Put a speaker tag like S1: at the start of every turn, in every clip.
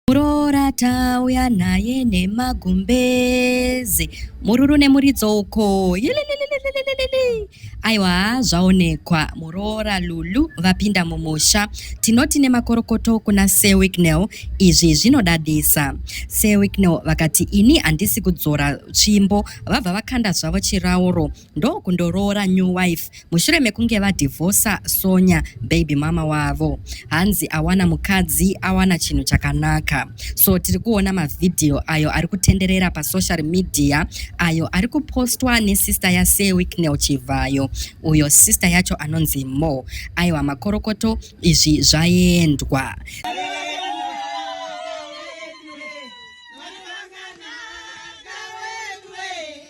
S1: Muroora tauya naye nemagumbeze mururu nemuridzo uko yelelelelelelelele aiwa haa zvaonekwa muroora lulu vapinda mumusha tinoti nemakorokoto kuna sir wicknell izvi zvinodadisa sir wicknell vakati ini handisi kudzora tsvimbo vabva vakanda zvavo chirauro ndokundoroora new wife mushure mekunge vadhivhosa Sonya baby mama wavo. Hanzi awana mukadzi awana chinhu chakanaka. So tiri kuona mavhidhiyo ayo ari kutenderera pasocial media ayo ari kupostwa nesister yaSir Wicknell Chivhayo uyo sister yacho anonzi Mo. Aiwa makorokoto izvi zvaendwa.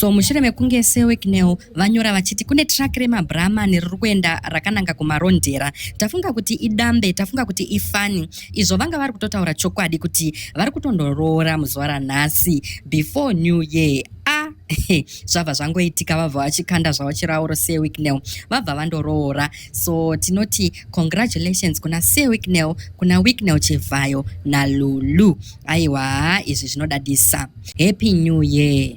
S1: so mushure mekunge seweknel vanyora vachiti kune track remabrahman riri kuenda rakananga kumarondera tafunga kuti idambe tafunga kuti ifani izvo vanga vari kutotaura chokwadi kuti vari kutondoroora muzuva ranhasi before new year a zvabva zvangoitika vabva vachikanda zvavo chirauro seweknel vabva vandoroora so tinoti congratulations kuna sir wicknel kuna wicknel chivhayo nalulu aiwa izvi zvinodadisa happy new year